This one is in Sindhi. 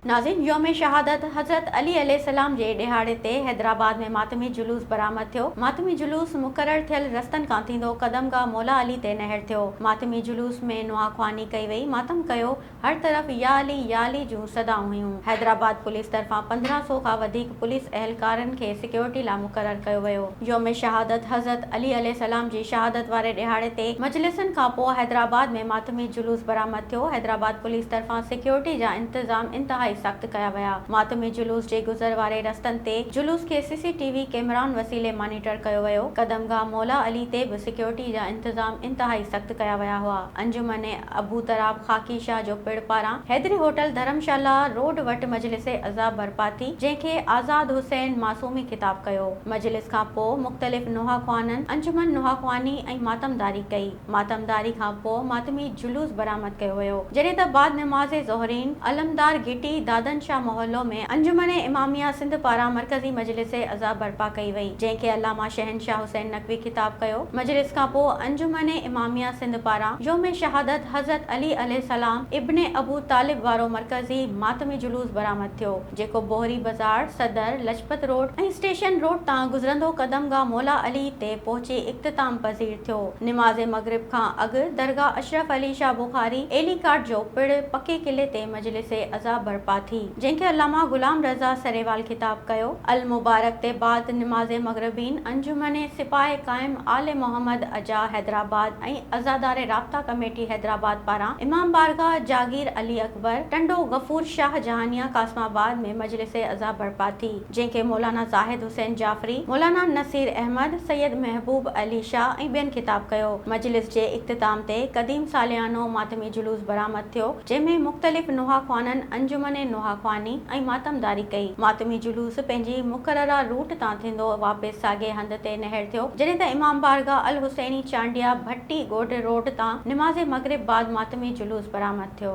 ناظرين يوم شهادت حضرت علي عليه السلام جي ڏهاڙي تي حيدرآباد ۾ ماتمي جلوس برآمد ٿيو ماتمي جلوس مقرر ٿيل رستن کان ٿيندو قدم گاهه مولا علي تي نهر ٿيو ماتمي جلوس ۾ نواخواني ڪئي وئي ماتم ڪيو هر طرف يا علي يا علي جون صدائون هيون. حيدرآباد پوليس طرفان پندرهن سؤ کان وڌيڪ پوليس اهلڪارن کي سيڪيورٽي لاء مقرر ڪيو ويو. يوم شهادت حضرت علي عليه السلام جي شهادت واري ڏهاڙي تي مجلسن کان پوء حيدرآباد ۾ ماتمي جلوس برآمد ٿيو. حيدرآباد پوليس طرفان سيڪيورٽي جا انتظام انتهائي سخت ڪيا ويا. ماتمي جلوس جي گذر واري رستن تي جلوس کي سي سي ٽي وي ڪئميرائن وسيلي مانيٽر ڪيو ويو. قدمگاهه مولا علي تي به سيڪيورٽي جا انتظام انتهائي سخت ڪيا ويا هئا. انجمن ابو تراب خاڪي شاهه جو پڙ پاران حيدري هوٽل ڌرم شالا روڊ وٽ مجلس عزا برپا ٿي جنهن کي آزاد حسين معصومي خطاب ڪيو مجلس کان پوء مختلف نوحاخوانن انجمن نوحاخواني ۽ ماتمداري ڪئي ماتمداري کان پوء ماتمي جلوس برآمد ڪيو ويو جڏهن ته بعد نماز ظهرين علمدار گهٽي دادن شاهه محلو ۾ انجمن اماميه سنڌ پاران مرڪزي مجلس عزا برپا ڪئي وئي جنهن کي علامه شهنشاهه حسين به خطاب ڪيو. مجلس کان پوء انجمن اماميه سنڌ پاران يوم شهادت حضرت علي عليه السلام ابن ابو طالب وارو مرڪزي ماتمي جلوس برآمد ٿيو، جيڪو Bohri Bazaar, Saddar, Lajpat road ۽ station road تان گذرندو قدم گاهه مولا علي تي پهچي اختتام پذير ٿيو. نماز مغرب کان اڳ درگاهه اشرف علي شاهه بخاري ايلي ڪاٽ جو پڻ پڪي قلعي تي مجلس عزا برپا ٿي. جنهن کي علامه غلام رضا سريوال خطاب ڪيو. المبارڪ تي بعد نماز مغربين انجمن سپاهه قائم آل محمد اجاء حيدرآباد ۽ عزاداري رابطا ڪميٽي حيدرآباد پاران امام بارگاهه جاگير علي اڪبر ٽنڊو غفور شاهه جهانيان قاسم آباد ۾ مجلس عزا برپا ٿي. جنهن کي مولانا زاهد حسين جعفري، مولانا نصير احمد، سيد محبوب علي شاهه ۽ ٻين خطاب ڪيو. مجلس جي اختتام تي قديم ساليانو ماتمي جلوس برآمد ٿيو، جنهن ۾ مختلف نوحاخوانن انجمن نوحاخواني ۽ ماتمداري ڪئي. ماتمي جلوس پنهنجي مقرره روٽ تان ٿيندو واپس ساڳئي هنڌ تي نهڙ ٿيو، جڏهن ته امام بارگاهه الحسيني چانڊيا ڀٽي ڳوٺ روڊ تان نماز مغرب بعد ماتمي جلوس برآمد ٿيو.